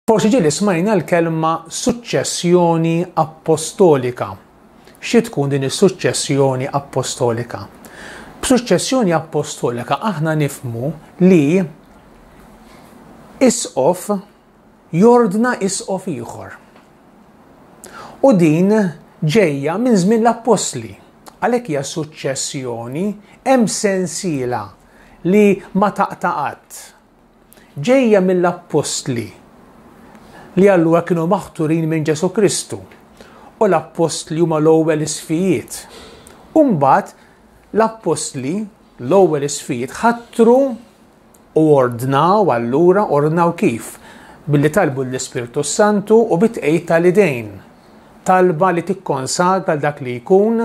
Forsi ġieli smajna l-kelma suċċessjoni appostolika. Xi tkun din is-suċċessjoni appostolika? B'suċċessjoni appostolika aħna nifmu li isqof jordna isqof ieħor. U din ġejja minn żmien l-appostli. Għalhekk hija suċċessjoni hemm sensiela li ma taqta' qatt, ġejja mill-appostli li allura kienu maħturin minn Ġesu Kristu u l-appostli huma l-ewwel isfijiet. Umbagħad l-appostli l-ewwel isfijiet ħattru u ordnaw allura ordnaw kif? Billi talbu l-Ispirtu Santu u bitqejt tal-idejn. Talba li tikkonsagra dak li jkun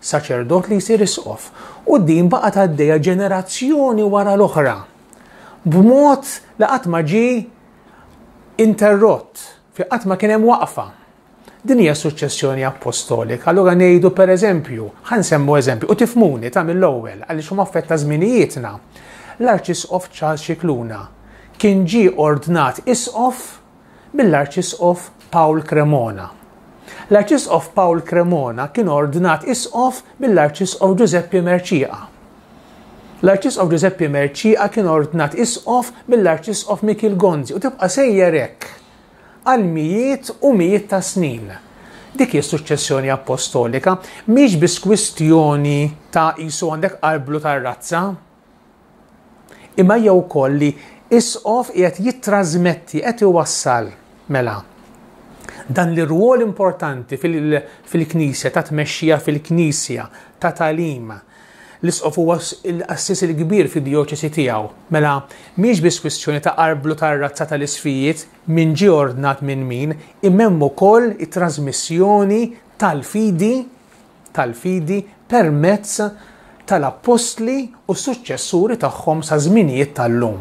saċerdot li jsir isqof, u din baqgħet għaddejja ġenerazzjoni wara l-oħra, b'mod li qatt ma ġie interrott, fi qatt ma kien hemm waqfa. Din hija suċċessjoni apostolika. Allura ngħidu pereżempju, ħansemmu eżempju, u tifmuni ta' mill-ewwel għaliex huma affetta żminijietna. L-Arċisqof Charles Xikluna kien ġie ordnat isqof mill-Arċisqof Pawl Cremona. L-Arċisqof Pawl Cremona kien ordnat Isqof mill-Arċisqof Ġużeppi Merċieqa. L-Arċisqof Ġużeppi Merċieqa kien ordnat Isqof mill-Arċisqof Mikiel Gonzi u tibqa' sejjer hekk għal mijiet u mijiet ta' snin. Dik hi suċċessjoni appostolika mhix biss kwistjoni ta' qisu għandek qarblu tar-razza, Imma hija wkoll li isqof qiegħed jittrażmetti, qed iwassal mela dan l-irwol importanti fil-Knisja, ta' tmexxija fil-Knisja, ta' talim. L-isqof huwa l-assis il-kbir fid-djoċesi tiegħu. Mela, mhix biss kwistjoni ta' qarblu tar-razza tal-isfijiet min ġie ordnat minn min, imma hemm ukoll it-trażmissjoni tal-fidi tal-fidi permezz tal-appostli u s-suċċessuri tagħhom sa żminijiet tal-lum.